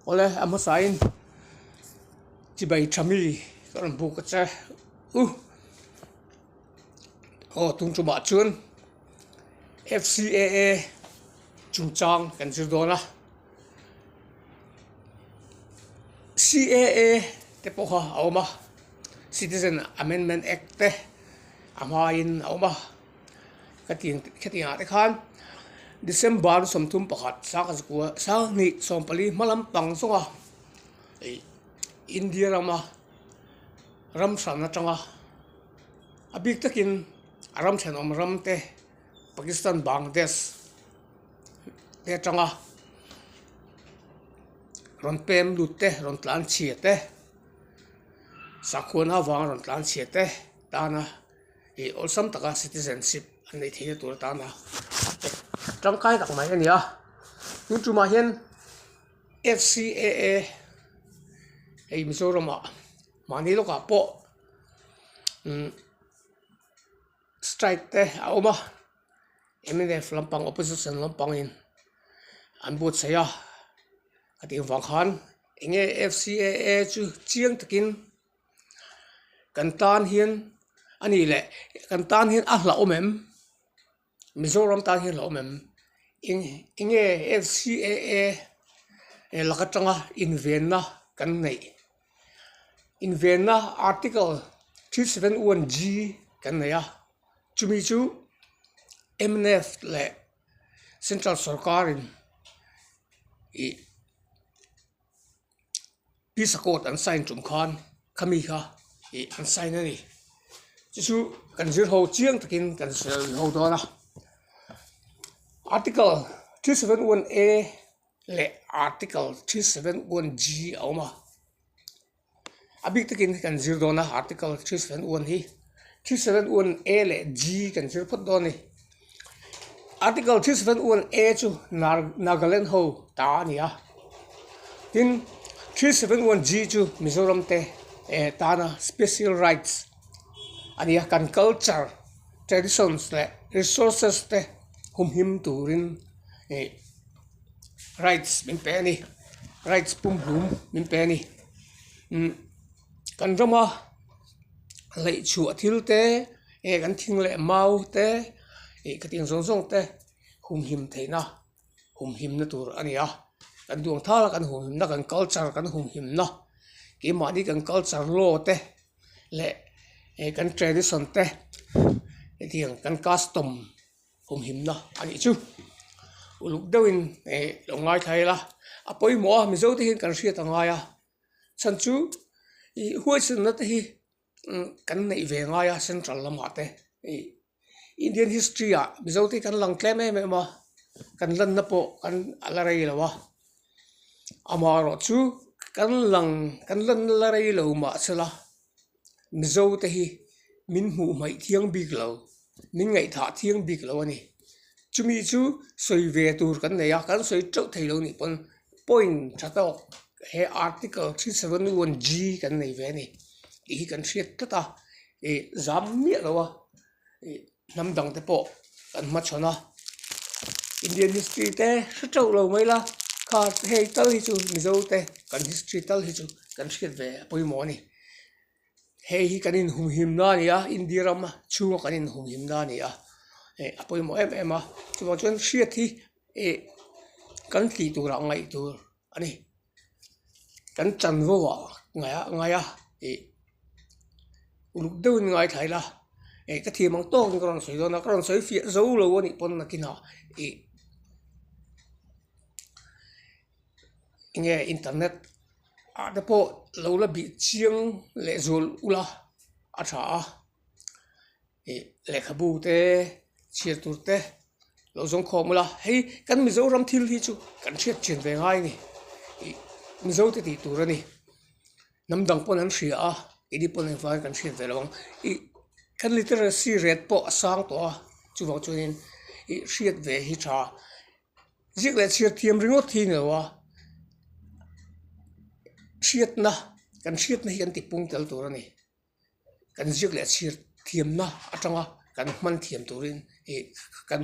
Awle a hmasain chibai tha mi ka rawn buk a che u, aw tum tumah chuan FCAA chungchang kan zir dawn a, CAA te pawh kha a awm a, Citizen Amendment Act te a hmain a awm a. Khatiang khatiang ah te khan December sawmthum pakhat sangkhazakuwa sanghnih sawmpali hmalam pang zawnga eih India rama ram thran atanga a bik takin a ram thenawm ram te Pakistan Bangladesh te atanga rawn pem lut te rawn tlan chhia te sakhuana avanga rawn tlan chhia te tana. ih awlsam taka citizenship an neih theihna tur atan a tangkai tak mai a ni a tin chumah hian fcaa hei mizorama mahni lawkah pawh umm strike te a awm a mnf lampang opposition lampangin an buatsaih a a tih ang vang khan eng nge fcaa chu chiang takin-- kan tan hian a nih leh kan tan hian a hlauhawm em mizoram tan hi a hlauhawm em eng enge fcaa e lak atanga invenna kan neih invenna article three seven one g kan nei a chumi chu mnf leh central sawrkarin ih-- visa code an sign chung khan khami kha ih an sign a ni chu chu kan zir ho chiang takin kan sawiho dawn a article three seven one a leh article three seven one g a awm a. A bik takin kan zir dawn a article three seven one hi three seven one a leh g kan zir phawt dawn a ni article three seven one a chu nagaland ho ta a ni a tin three seven one g chu mizoram te eh tana special rights a ni a kan culture traditions leh resources te humhim turin ih-- rights min pe a ni rights pumhlum min pe a ni kan ram a leih chhuah thil te eng kan thing leh mau te ih ka tih zawng zawng te humhim theihna humhimna tur a ni a kan duang thala kan humhimna kan culture kan humhimna keimahni kan culture law te leh kan tradition te hetiang kan custom -- kum himna a nih chu uluk deuhin ih lo ngaithla ila a pawimawh a mizo te hian kan hriat a ngai a chhan chu ih huaisawna te hi umm kan neih ve ngai a central lamah te ih indian history ah mizo te hi kan lang tlem em em a kan lanna pawh kan a la rei lo a amaherawhchu kan lang kan lanna la rei lo mahse la. Mizo te hi min hmuh hmaih thiang bik lo, min ngaih thah thiang bik lo a ni. Chumi chu sawi ve tur kan nei a, kan sawi teuh thei lo nih pawn point tha tawk he article three seven one G kan nei ve a ni, tih hi kan hriat tlat a, ih zam miah lo a, ih-- hnam dang te pawh kan hma chhawn a Indian history te hre teuh lo mai la khar te hei tal hi chu Mizo te kan history tal hi chu kan hriat ve a pawimawh a ni hei hi kan inhumhim na a ni a India ram a chhunga kan inhumhim na a ni a eh a pawimawh em em a chuvang chuan hriat hi eh kan tih tura ngaih tur a ni. kan chan vo va ngai a ngai a ih uluk deuh in ngaithla ila ih ka thiam ang tawk in ka rawn sawi dawn a ka rawn sawi fiah zo lo a nih pawn nakin a ih enge internet ah te pawh lo la bih chiang leh zual ula a tha a. ih lehkhabu te chhiar tur te lo zawng khawm alh a hei kan mizoram thil hi chu kan chhiat chin ve ngai a ni ih mizo te tih tur a ni hnam dang pawn an hria a edi pawh eng vang kan hriat ve lo ang ih kan literacy rate pawh a sang tawh a chuvang chuan in ih hriat ve hi tha ziak leh chhiar thiam ringawt hi a ni lo a hriatna kan hriatna hi kan ti pung tel tur a ni. kan ziak leh chhir thiamna atanga kan hman thiam turin ih kan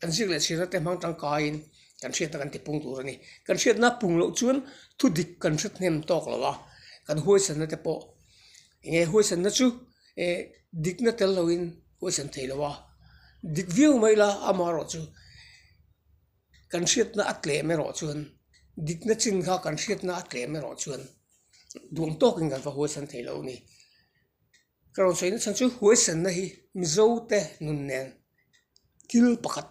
kan ziak leh chhirna te hmang tangkaiin kan hriatna kan ti pung tur a ni kan hriatna pung loh chuan thu dik kan hretnem tawk lo a kan huaisanna te pawh enge huaisanna chu eh dikna tel loin huaisan theih loh a dik viau mai ila amaherawhchu-- Kan hriatna a tlem erawh chuan, dikna chin kha kan hriatna a tlem erawh chuan duang tawkin kan va huaisan thei lo a ni. Ka rawn sawi nachhan chu huaisanna hi Mizo te nun nen thil pakhat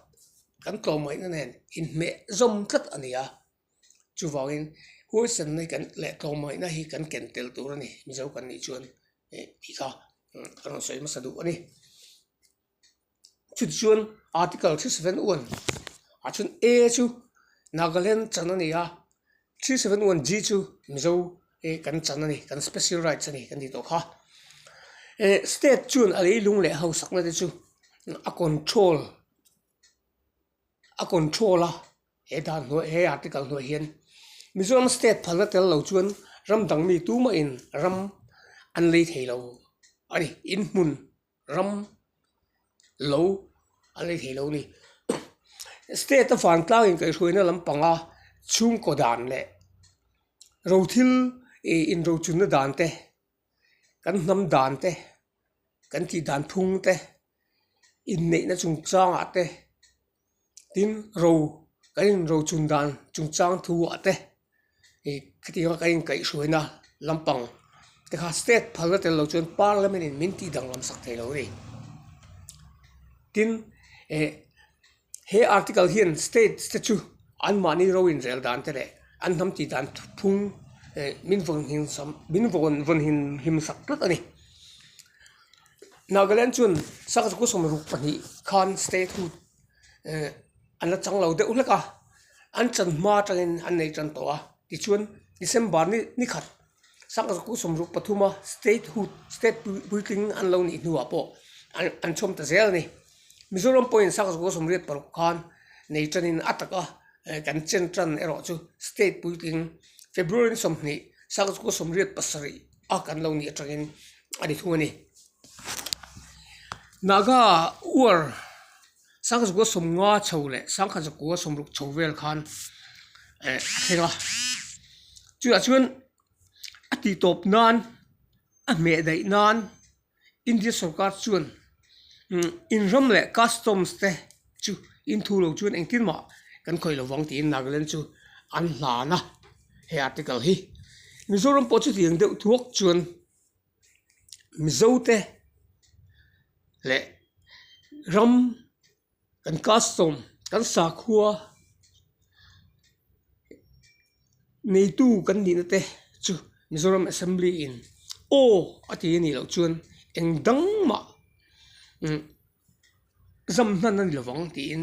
kan tlawmaihnna nen inhmeh zawm tlat a ni a. Chuvangin huaisanna kan leh tlawmaihnna hi kan ken tel tur a ni, Mizo kan nih chuan tih kha ka rawn sawi hmasa duh a ni. chutah chuan article three seven one ah chuan a chu nagaland chan a ni a three seven one g chu mizo ih kan chan a ni kan special rights a ni kan tih tawh kha eh state chuan a leilung leh a hausakna te chu a control a control a he dan hnuai he article hnuai hian mizoram state phalna tel lo chuan ram dang mi tum mah in ram an lei thei lo a ni inhmun. ram lo a la thei lo a ni state a vantlang inkaihhruaina lam panga chhungkaw dan leh ro thil ih inrochunna dan te kan hnam dan te kan tih dan phung te inneihna chung changah te. tin ro kan in ro chhun dan chung chang thu ah te ih khati anga kan inkaih hruai na lampang te kha state phal na tel lo chuan parliament in min tih danglam sak thei lo a ni tin eh he article hian state te chu an mahni ro in rel dan te leh an hnam tih dan phung eh min vawn hlim sam min vawn vawn hlim hlim sak tlat a ni. Nagaland chuan sangha chu kusawm ruk pahnih khan statehood ehh an la changlo deuh hlek a, an chan hma atangin an nei tan tawh a, tichuan December ni khat sangha chu kusawm ruk pathum a statehood state puitling an lo nih hnuah pawh an chhawm ta zel a ni, Mizoram pawhin sangha chu kusawm riat paruk khan nei tanin a tak a kan chen tan erawh chu state puitling February sawmhnih sangha chu kusawm riat pasarih. a kan lo nih atangin a ni thung a ni. Naga uar sangkhatzawka sawmnga chho leh sangkhatzawka sawmruk chho vel khan a thleng a, chutah chuan a titawp nan a hmeh daih nan. India sorkar chuan inram leh customs te chu in thu lo chuan engtin mah kan khawih lo vang tiin Nagaland chu an hlan a he article hi Mizoram pawh chu tiang deuh thuak chuan Mizo te leh ram Kan custom, kan sakhua neitu kan nihna te chu Mizoram Assembly in aw a ti a nih loh chuan eng dang mah zam hman a ni lovang tiin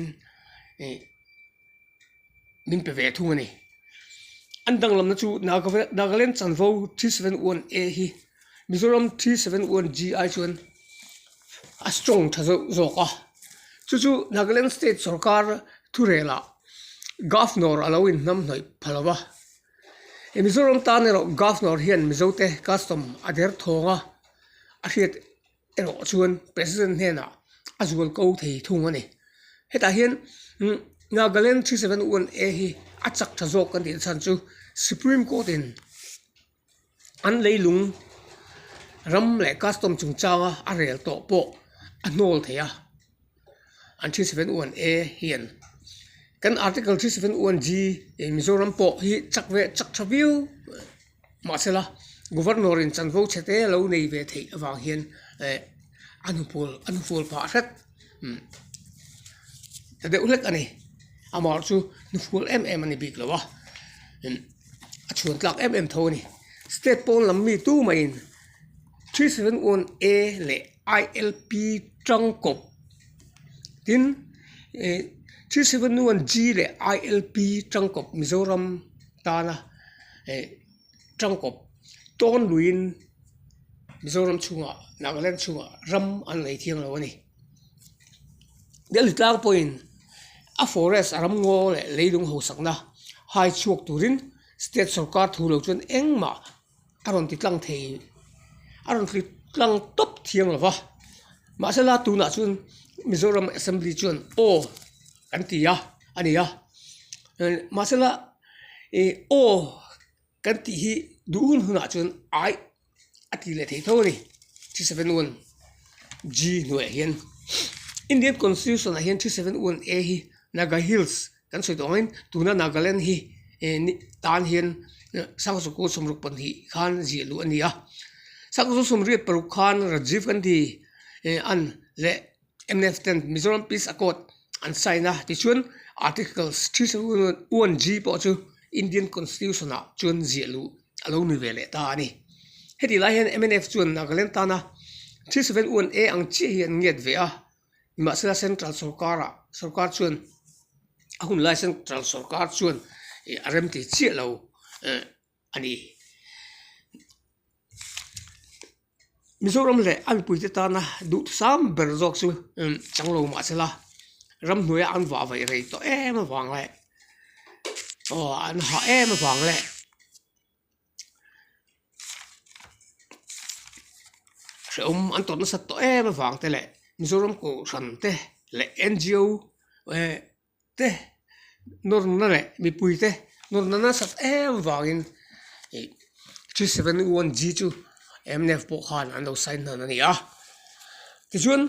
min pe ve thung a ni. An danglamna chu Nagaland Chanvo three seven one A hi. Mizoram three seven one G ai chuan a strong tha zauh zawk a, chu chu Nagaland state sawrkar thurela governor a lo inhnam hnawih pha lo va, he Mizoram tan erawh governor hian Mizote custom a derthawng a, a hriat erawh chuan president hnenah a zual ko thei thung a ni. Hetah hian Nagaland three seven one A hi a chak tha zawk kan tih na chhan chu supreme court in. an leilung ram leh custom chungchanga a rel tawh pawh a hnawl theih a an three seven one a hian kan article three seven one g ih mizoram pawh hi chak ve chak tha viau mahse la governor in chanvo chhe te lo nei ve theih avang hian eh a nupawl a nupawl pah hret. umm tha deuh hlek a ni amah erawh chu nu fual em em a ni bik lo a umm a chhuan tlak em em tho a ni state pawn lam mi tu mai in three seven one a leh I L P ṭangkaw tin ih three seven one G leh I L P ṭangkaw mizoram tana eh. Tangkawp tawn luiin Mizoram chhungah, Nagaland chhungah ram an nei thiang lo a ni. Delhi tlang pawhin a forest a ram ngaw leh leilung hausakna hai chhuak turin state sawrkar thu lo chuan engmah a rawn ti tlang thei, a rawn ti tlang tawp thiang lo va. Mahsela tunah chuan Mizoram Assembly chuan aw. kan ti a a ni a eh mahsela ih aw kan tih hi duh hun hunah chuan aih a tih leh thei tho a ni three seven one g hnuaiah hian indian constitution ah hian three seven one a hi naga hills kan sawi tawh angin tuna nagaland hi eh ni tan hian eh sangha chu ku sawmruk pahnih khan zia luh a ni a sangha chu sawmriat paruk khan rajiv gandhi eh an leh-- Mnf ten Mizoram Peace Accord an sign a, tichuan Articles three seven one G pawh chu Indian Constitution ah chuan ziah luh a lo nui ve leh ta a ni. Heti lai hian mnf chuan Nagaland tana three seven one A ang chiah hi an ngiat ve a, nimahsela central sawrkar ah sawrkar chuan a hun lai central sawrkar chuan a remti chiah lo. a ni. Mizoram leh a mipuite tana duhthusam ber zawk chu chang lo mah se la ramhnuaia an vah vaih rei tawh em avang leh aw an hah em avang leh hrehawm an tawrh nasat tawh em avang te leh Mizoram Kohhran te leh NGO eh-- te nawrna leh mipui te nawrna nasat em vangin ih three seven one g chu mnf pawh khan an lo sign hnahan a ni a tichuan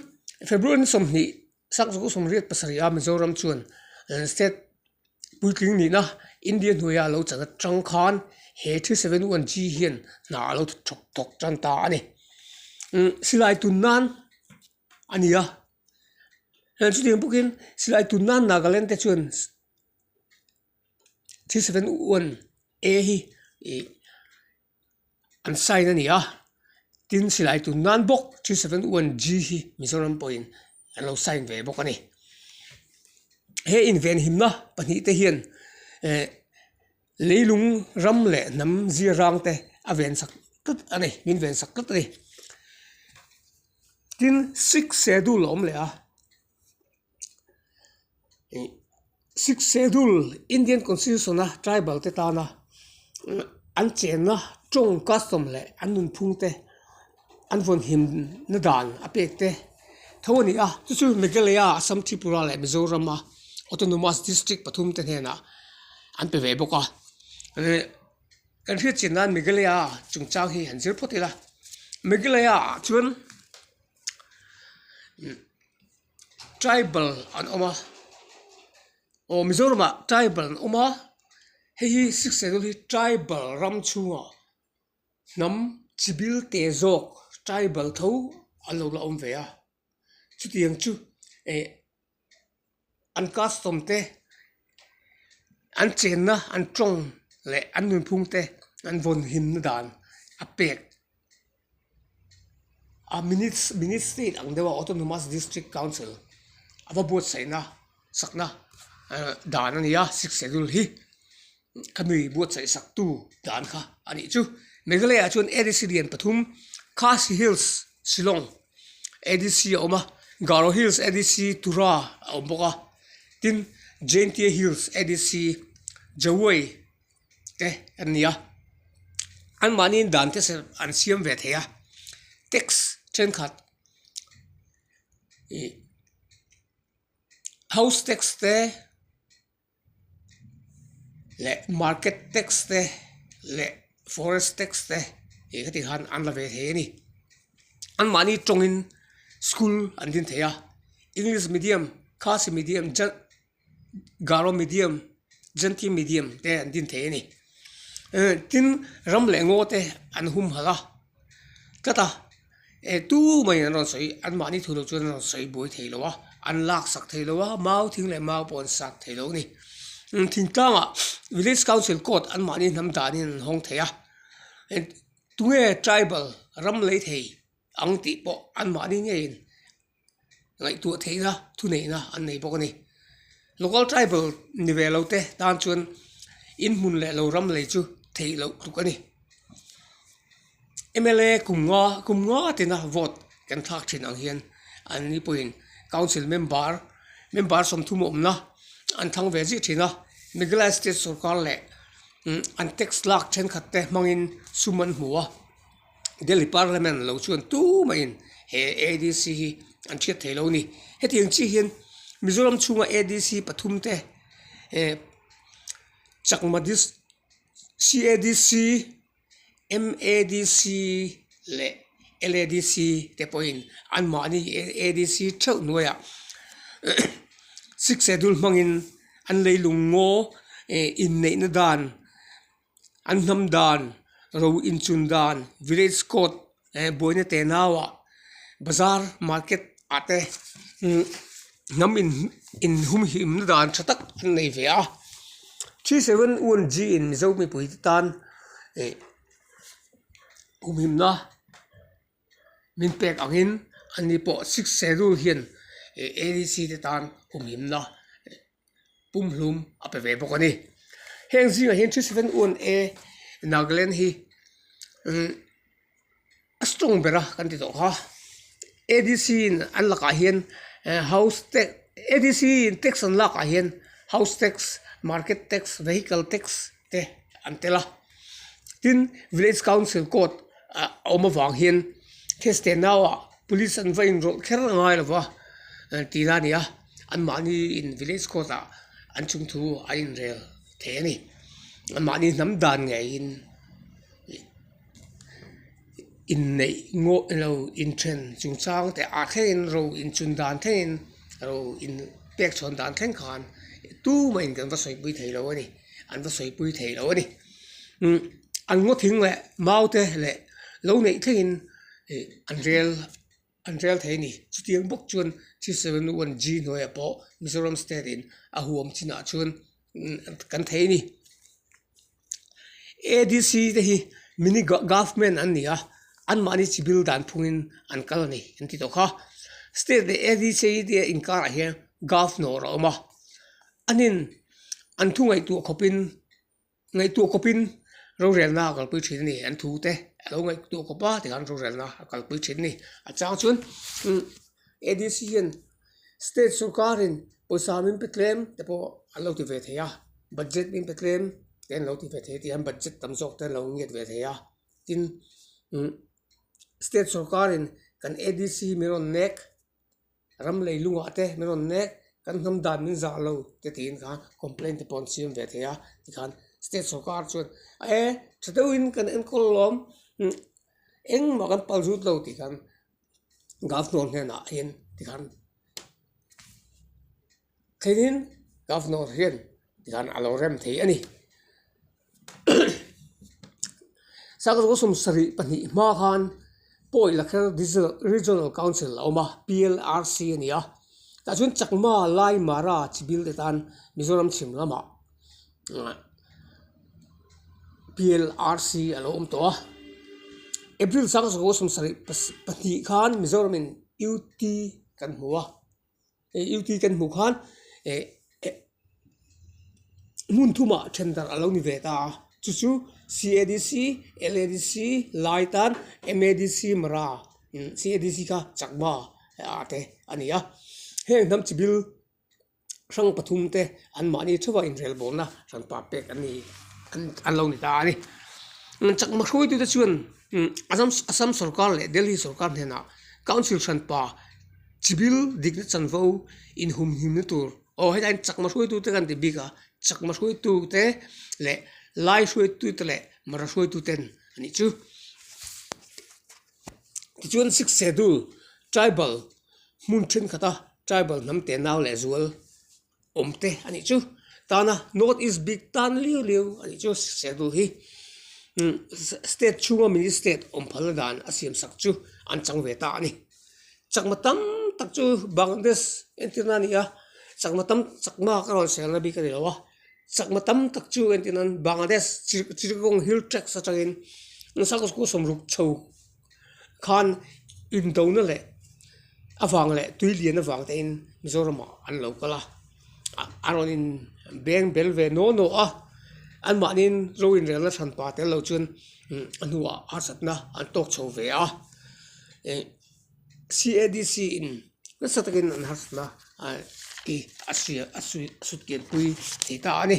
february sawmhnih sak zawk sawmriat pasarih a mizoram chuan an state puitling nihna india hnuaia lo chan atang khan he three seven one g hian hna a lo thawk thawk tan ta a ni silai tun nan a ni a. Chuan chutiang bawk in silai tun nan Nagaland te chuan three seven one a hi ih an sign a ni a tin silai tun nan bawk three seven one g hi Mizoram pawhin an lo sign ve bawk a ni he invenhimna pahnih te hian eh-- Leilung ram leh hnam zir rang te a ven sak tlat a ni, min ven sak tlat a ni. Tin, Sikh schedule a awm leh a, ih Sikh schedule Indian constitution a tribal te tana an chenna tawng custom leh an nunphung te. an vawn hlim na dan a pek te tho a ni a chu chu Meghalaya Assam Tripura leh Mizoram a autonomous district pathum te hnenah an pe ve bawk a eh kan hriatchian nan Meghalaya a chungchang hi an zir phawt ila Meghalaya ah chuan imm tribal an awm a aw Mizoram ah tribal an awm a hei hi six schedule hi tribal ram chhungah-- hnam chibil teh zawk tribal tho an lo la awm ve a chuti ang chu eh an custom te an chenna an tawng leh an nunphung te an vawn him na dan a pek a ministry ang deuha autonomous district council a va buatsaihna sakna dan a ni a sixth schedule hi. ka nui buatsaih sak tu dan kha a nih chu Meghalaya ah chuan adc lian pathum Khasi Hills Shillong adc a awm a Garo Hills adc Tura a awm bawk a tin Jaintia Hills adc Jawoi te an ni a an mahniin dan te serh an siam ve thei a tax thenkhat ih house tax te-- leh market tax te leh forest tax te tih te khan an la ve thei a ni anmahni tawngin school an din thei a english medium khasi medium garo medium zanthi medium te an din thei a ni tin ram leh ngaw te an hum hal a. tlat a e tu mai in an rawn sawi an mahni thu loh chuan an rawn sawi buai thei lo a an lak sak thei lo a mau thing leh mau pawh an sak thei lo a ni umm thing tlang ah village council court an mahni hnam dan in an hawng thei a tunge tribal ram lei thei ang tih pawh an mahni ngei in-- ngaihtuah theihna thuneihna an nei bawk a ni local tribal ni ve lo te tan chuan inhmun leh lo ram lei chu theih loh hluk a ni mla kum nga kum nga tina vote kan thlak thin ang hian an ni pawhin council member member sawmthum awmna an thang ve zih thin a Meghalaya state sawrkar leh an tax lak thenkhat te hmangin sum an hmu a. Delhi Parliament lo chuan tumain he ADC hi an thiat theih lo a ni. Heti ang chiah hian Mizoram chhunga ADC pathum te eh Chakma district, CADC, MADC leh LADC te pawhin an mahni ADC theuh hnuaia sixth schedule hmangin an leilung ngaw eh inneihna dan. an hnam dan ro inchun dan village court eh buaina tenau ah bazar market ah te imm hnam in in hum him na dan tha tak an nei ve a three seven one G in mizo mipui te tan eh humhimna-- Min pek angin ani pawh sikse rule hian ADC te tan humhimna pumhlum a pe ve bawk a ni. Heng zingah hian three seven one a Nagaland hi a strong ber a kan ti tawh kha. ADC in an lakah hian house tax ADC in tax an lakah hian house tax, market tax, vehicle tax, te an tel a tin village council court ah a awm avang hian case te nau ah police an va inrawlh kher ngai lo va eh tih lai a ni a an mahni in village court ah an chhung thu an inrel thei a ni an mahni hnam dan ngeiin ih-- inneih ngawh ilo inthen chung chang teh ah thlengin ro inchun dan thlengin ro in pek chhawn dan thleng khan tumain kan va sawipui thei lo a ni an va sawipui thei lo a ni an ngawthing leh maute leh lo neih thlengin ih an rel-- an rel thei a ni. Chutiang bawk chuan three seven one G hnuaia pawh Mizoram state in a huam chinah chuan kan thei a ni. ADC te hi mini government an ni a, an mahni chi bill dan phungin an kal a ni kan ti tawh kha. State leh ADC te inkarah hian governor a awm a, an in an thungaihtuah khawpin. Ngaihtuah kawpin rorelna a kalpui thin a ni, an thu te a lo ngaihtuah kawp a tikhan rorelna a kalpui thin a ni. A chang chuan adc hian state sawrkarin pawisa min pe tlem te pawh an lo ti ve thei a, budget min pe tlem te an lo ti ve thei a, tihian budget tam zawk te an lo ngiat ve thei a, tin state sawrkarin kan adc min rawn nek. ram lei lungah te min rawn nek kan hnam dan min zah lo te tiin kha complain te pawh an siam ve thei a tikhan state sawrkar chuan ee tha deuhin kan enkawl alawm engmah kan palh zut lo tih khan governor hnenah hian tikhan-- Thlengin governor hian zan a lo rem thei a ni. Sakawr Kaw Sum sarih pahnih hma khan Pawi Lakher Regional Council a awm a, PLRC a ni a, tah chuan Chakma, Lai, Mara, Chibil te tan Mizoram chhim lamah PLRC a lo awm tawh a. April Sakawr Kaw Sum sarih pahnih khan Mizoram in UT kan hmu a. Eiutui kan hmuh khan hmun thuma then darh a lo ni ve ta a, chu chu CADC, LADC, lai tan MADC, Mara, CADC kha chakma te a ni a, heng hnam chi bil hrang pathum te an mahni theuh a inrel bawm na hrang pa pek a ni an lo ni ta a ni. Chakma hruaitu te chuan Assam Assam sawrkar leh Delhi sawrkar hnenah council hrang pa Chibil dikna chanvo inhumhimna tur aw hetilai ah chakma hruaitute kan ti bik a chakma hruaitute leh lai hruaitute leh mara hruaitute a nih chu tichuan six schedule tribal hmun thenkhat a tribal hnam te nau leh zual. awm te a nih chu tana north east bik tan riau riau a nih chu serthlum hi state chhunga mini state awm phalna dan a siam sak chu an chang ve ta a ni chakma tam tak chu bangladesh entirna a ni a chakma tam chakma ka rawn serna bik a ni lo a chakma tam tak chu entirna bangladesh chittagong hill tracks atangin nasa kawsawm ruk chho. khan indona leh avang leh tui lian avang te in Mizoram ah an lo kal a a rawn in beng bel ve naw naw a an mahnin raw in rel na chhan pa tel lo chuan a hnua harsat na an tawk chho ve a ih CADC in nasa tak in an harsat na an ti a hria a hriat a hriat pian pui tih ta a ni.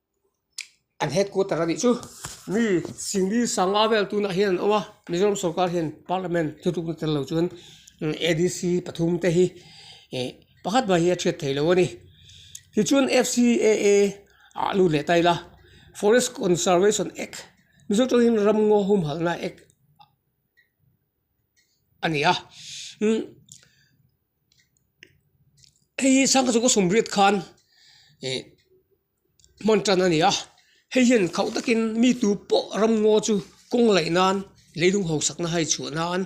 an headquarter a nih chu mi Singli sangha vel tunah hian an awm a Mizoram sawrkar hian parliament thlutukna tel lo chuan adc pathum te hi ih pakhat hmai hi a chhiat theih lo a ni tichuan FCAA ah lut leh ta ila forest conservation act mizo tangin ram ngaw humhalhna act a ni a hei hi sangha chuka sawmriat khan ih-- hman tan a ni a hei hian khaw takin mi tu pawh ram ngaw chu kawng laih nan leihlum ho sakna a haichhuah nan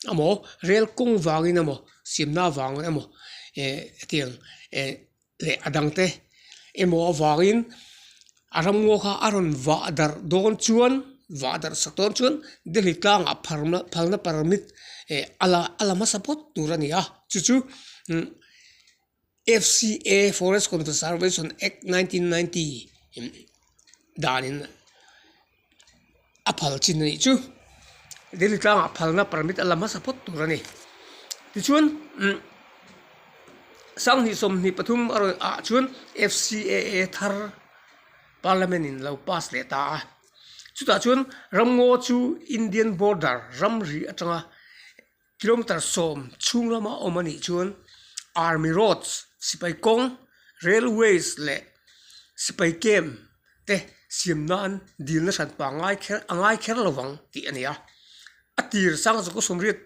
a maw rel kawng vangin a maw simna vang e maw eh hetiang eh leh a dang te emaw avangin a ram ngaw kha a rawn vah darh dawn chuan vah darh sak dawn chuan delhi tlangah phar na phalna permit eh a la a la hmasa phawt tur a ni a chu chu imm-- FCA, Forest Conservation Act nineteen ninety in danin a phal chin a nih chu delhi tlangah phalna permit a la hmasa phawt tur a ni tichuan umm sanghnih sawmhnih pathum erawhah chuan FCA a thar parliament in lo pass leh ta a chutah chuan ramngaw chu indian border ramri atanga-- Kilometer sawm chhung lama awm a nih chuan Army Roads, Sipai Kawng, Railways leh Sipai Camp te siam nan dil nasa pa ngai kher a ngai kher lo vang tih a ni a. A tir Sang Zoku Sumriat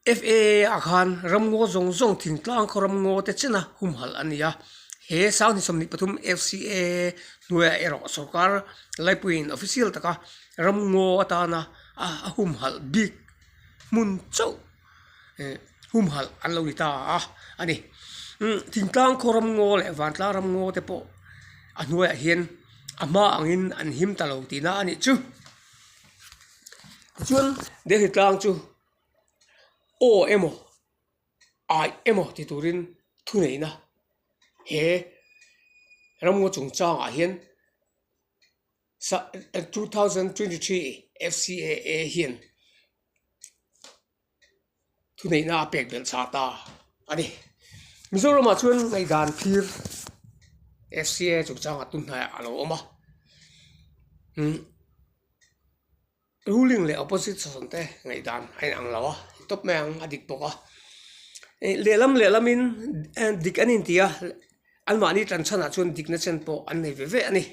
FAA-a khan ramngaw zawng zawng thingtlang khaw ramngaw te china humhalh a ni a. He Sang Hnisawm Ni Pathum FCAA hnuaia erawh sawrkar laipuiin official taka-- Ramngaw atana a humhalh bik hmun chauh humhalh an lo ni ta a a ni. Thingtlang khaw ramngaw leh vantlang ramngaw te pawh a hnuaiah hian a hma angin an him ta lo tihna a nih chu. Tichuan, Delhi tlang chu aw emaw ai emaw ti turin thuneihna he ramngaw chungchangah hian-- sa two thousand twenty three FCAA hian thuneihna a pek belh chah ta a ni Mizoramah chuan ngaihdan thlir FCAA chung changa tun hnaiah a lo awm a. Ruling leh opposition te ngaihdan a inang lo a, ni tawp mai ang a dik bawk a. Lehlam lehlamin dik an inti a, anmahni tlan chhanah chuan dik nachan pawh an nei ve ve a ni.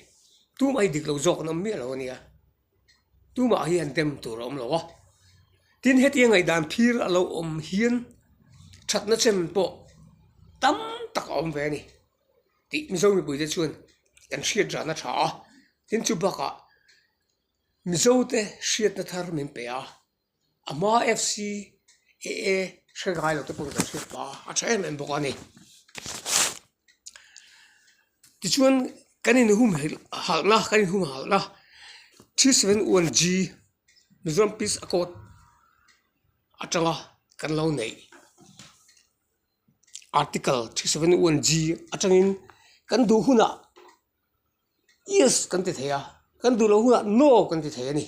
Tumah hi diklo zawk an awm miah lo a nia, tumah hi an dem tur a awm lo a. Tin, heti a ngaihdan phir a lo awm hian thatna chan pawh tam tak a awm ve a ni tih Mizo mipuite chuan kan hriatdan a tha a, tin chu bakah-- Mizote hriatna thar min pe a, a hma FC e e hre ngai lo te pawh min rawn hriat ta a, a tha em em bawk a ni. Tichuan kan inhum halhna kan inhum halhna three seven one G Mizoram Peace Accord atanga kan lo neih article three seven one G atangin kan duh hunah. yes kan ti thei a kan duh loh hunah no kan ti thei a ni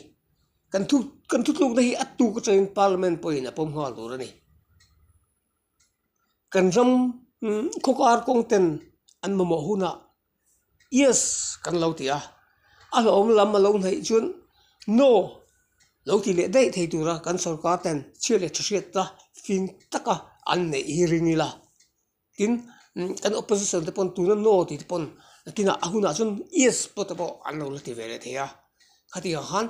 kan thu kan thutlukna hi a tuk atangin parliament pawhin a pawm nghal tur a ni kan ram khawkar kawng ten an mamawh hunah yes kan lo ti a a hlawhawm lam a lo hnaih chuan no lo ti leh daih thei tura kan sorkar ten chhiat leh tha hriat ta fing taka an neih hi ring ila. tin kan opposition te pawn tuna no tih te pawn tinah a hunah chuan yes pawh te pawh an lo la ti ve leh thei a khatiang khan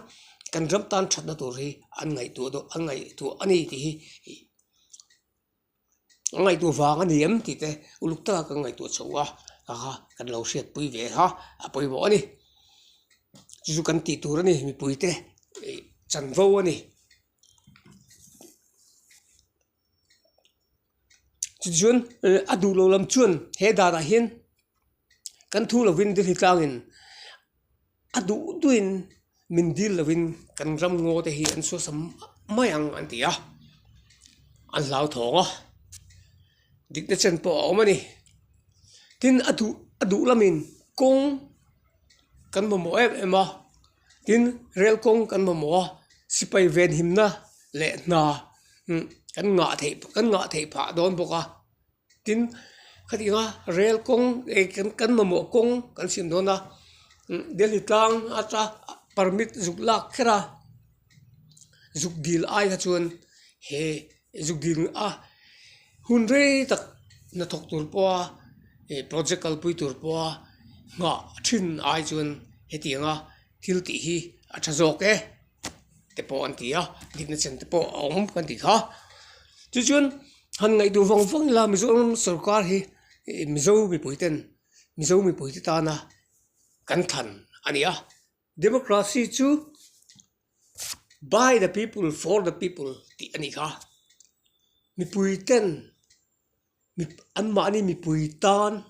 kan ram tan thatna tur hi an ngaihtuah deuh an ngaihtuah a ni tih hi an ngaihtuah vang a ni em tih te uluk taka kan ngaihtuah chho a kha kan lo hriatpui ve a a pawimawh a ni chu chu kan tih tur a ni mipuite chanvo a ni. chu chuan eh a duh loh lam chuan he danah hian kan thu lovin dil hi tlangin a duh duahin min dil lovin kan ram ngaw te hi an suasem mai ang an ti a an hlauthawng a dikna chan pawh a awm a ni tin a duh a duh lamin kawng kan mamawh em em a. tin rel kawng kan mamawh a sipai ven himna leh hna imm kan ngah theih kan ngah thei phah dawn bawk a tin khatiang a rel kawng leh kan mamawh kawng kan siam dawn a imm delhi tlang ata permit zuk lak kher a zuk dil aiah chuan he-- zuk dil a hun rei tak hnathawk tur pawha ih project kal pui tur pawha nghah thin ai chuan hetiang nga thil tih hi a tha zawk e te pawh an ti a dikna chan te pawh a awm kan ti kha chu chuan han ngaihtuah vang vang ila mizoram sawrkar hi ih mizo mipui ten mizo mipui te tana kan thlan a ni a. Democracy chu by the people for the people tih a ni kha. Mipui ten an mahni mipui tan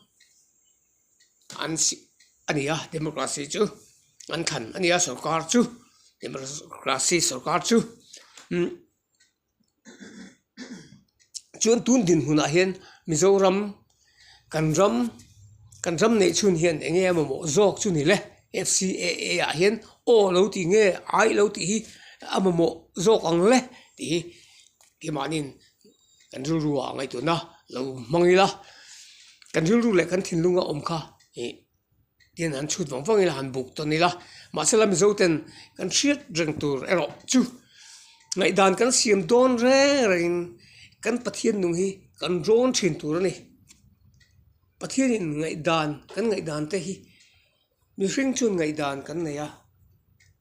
an si a ni a democracy chu an than a ni a sawrkar chu democracy sawrkar chu. chuan tun dinhmun ah hian mizoram kan ram kan ram neih chhun hian eng nge mamawh zawk chu nile f c a a ah hian aw lo tih nge ai lo tih hi a mamawh zawk ang le tih hi keng mah nin kan rilru ah ngaihtuahna lo hmang ila kan rilru leh kan thinlung a awm kha ih-- Tian han chhut vang vangin han buk ta nila, mahsela Mizoten kan hriat reng tur erawh chu ngaihdan kan siam dawn reng rengin kan Pathian nung hi kan rawn thin tur a ni. Pathianin ngaihdan kan ngaihdan te hi mihring chuan ngaihdan kan nei a,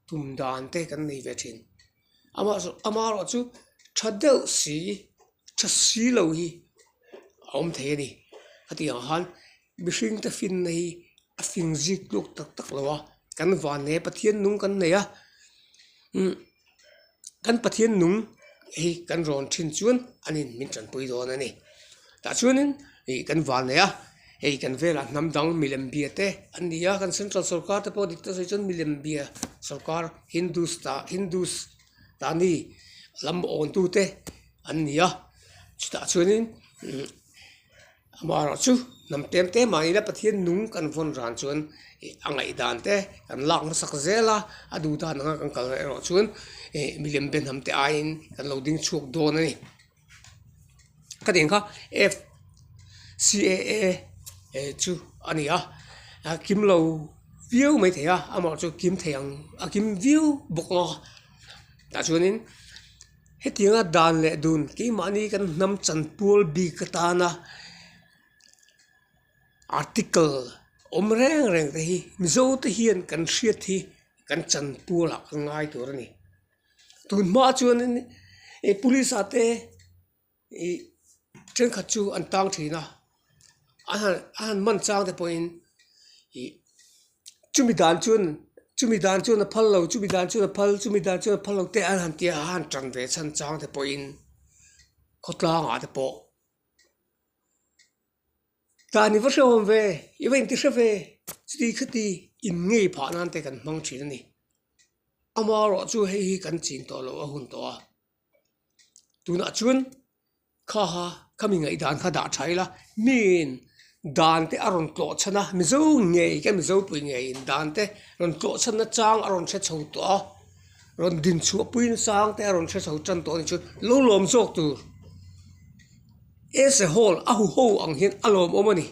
tum dan te kan nei ve thin. Amaherawh amaherawh chu tha deuh si, tha si lo hi a awm thei a ni. Hetiang khan. Mihring te fin na hi a fin zik hluk tak tak lo a kan vanleh a pathian nung kan nei a imm kan pathian nung hi kan rawn thin chuan an in min tan pui dawn a ni tah chuanin ih kan van leh a hei kan velah hnam dang milem bia te an ni a kan central sawrkar te pawh dik ta zui chuan milem bia sawrkar hindus ta hindus ta ni lam aw tu te an ni a chutah chuanin imm-- Amaherawh chu hnam tlem tlem ah ila Pathian nung kan vawn ran chuan ih a ngaihdan te kan lak hmasak zel a, a duhdan anga kan kal reh erawh chuan ih milem be hnam te aiin kan lo ding chhuak dawn a ni. Ka ding kha FCAA eh chu a ni a, a kim lo viau mai thei a, amaherawh chu kim thei ang a kim viau bawk a, tah chuan in. Hetianga dan leh dun keimahni kan hnam chan pual bik atana article awm reng reng te hi Mizo te hian kan hriat hi kan chan pualah a ngai tur a ni tunhma chuan in police ah te-- ih thenkhat chu an tang thin a a han a han man chang te pawhin ih chumi dan chuan chumi dan chuan a phal lo chumi dan chuan a phal chumi dan chuan a phal lo teh a han tia a han tan ve chhan chang te pawhin khawtlangah te pawh tani va hrehawm ve i va inti hre ve chuti khati in ngei phah nan te kan hmang thin a ni amaherawhchu hei hi kan chhin tawh loh a hun tawh a. tunah chuan kha ha kha mi ngaihdan kha dah tha ila hniin dan te a rawn tlawh chhan a mizo ngei ka mizopui ngeiin dan te rawn tlawh chhan na chang a rawn hre chho tawh a rawn din chhuah pui na chang te a rawn hre chho tan tawh a ni chuan lo lawm zawk tur as a whole a huho ang hian a lawm awm a ni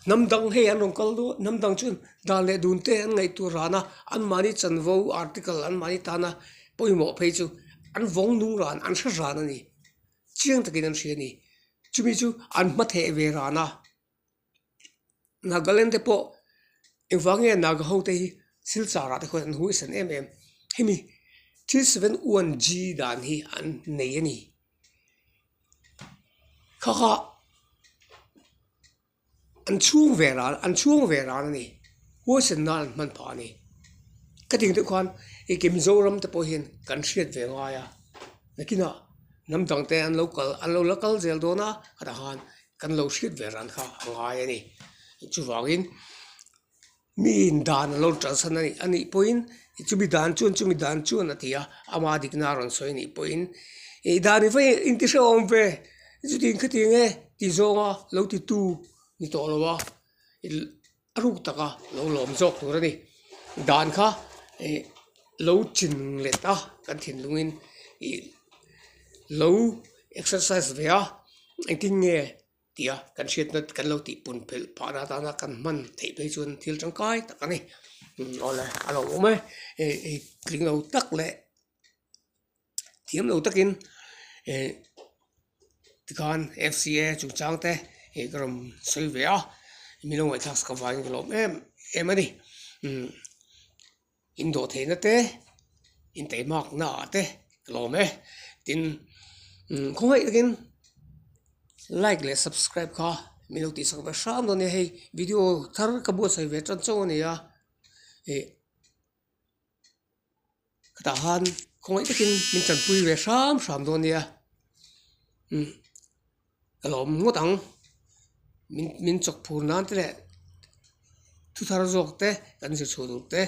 hnam dang hei an rawn kal dawn a hnam dang chuan dan leh dun te an ngaih tur rana an mahni chanvo article an mahni tana. Pawimawh phei chu an vawng nung ran an hre ran a ni. Chiang takin an hria a ni. Chumi chu an hma theh ve ran a. Nagaland te pawh engvah nge Naga hote hi silchar ah te khawn an hu isan em em. Hemi three seven one G dan hi an nei a ni. Khakha. An chhung ve ral, an chhung ve ral a ni. Huaisen nan an hman phah a ni. Ka ti ang deuh khan i ke Mizoram te pawh hian kan hriat ve ngai a, nakinah hnam dang te an lo kal, an lo la kal zel dawn a, khatah khan kan lo hriat ve ran kha a ngai a ni. Chuvangin. mi in dan a lo tan san anih anih pawhin i chumi dan chuan chumi dan chuan a ti a ama dik na a rawn sawi anih pawhin ih dan ni phahin in ti hreuh a awm ve chutih khatiang e tih zawng a lo ti tu ni tawh lo a i a ruk tak a lo lawm zawk tur a ni dan kha ih lo chin let a kan thinlung in ih lo exercise ve a engtin nge-- Tia kan hriatna kan lo tih punphelh phah na atana kan hman theih phei chuan thil tangkai tak a ni awle a lo awm e hei tling lo tak leh thiam lo takin eh tikhan fca chungchang te ih ka rawn sawi ve a min lo ngaihthlak sakavaiin ka lo awm em em a ni. Indawh theihna te, intaih makna ah te ka la awm e. Tin, khawnghaih takin like leh subscribe kha min lo tihsak ve hram lo nia, hei video thar ka buatsaih ve tan chauh a ni a, ih hetah khan khawnghaih takin min tanpui ve hram hram dawn nia. ka la awm ngawt ang min min chawk phur nan te leh thu thar zawk te kan zirchhuah duh te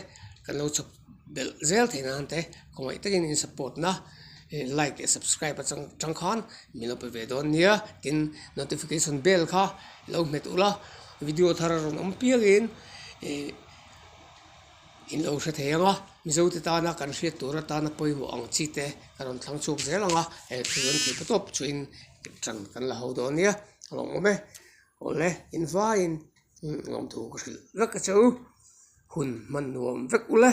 kan lo chawp belh zel thei nan te khawmai takin in support na hei like leh subscribe a chang chang khan min lo pe ve dawn nia tin notification bell kha lo nghet ulh a video thar a rawn awm piangin ihh-- In lo hre thei ang a, Mizote tana kan hriat tur atana pawimawh ang chi te ka rawn thlang chhuak zel ang a, eh thu an thei ka tawp chuin tan kan la ho dawn nia, awm e, awle in vaiin lawmthu ka hrilh vek ka che u, hun hman nuam vek u le.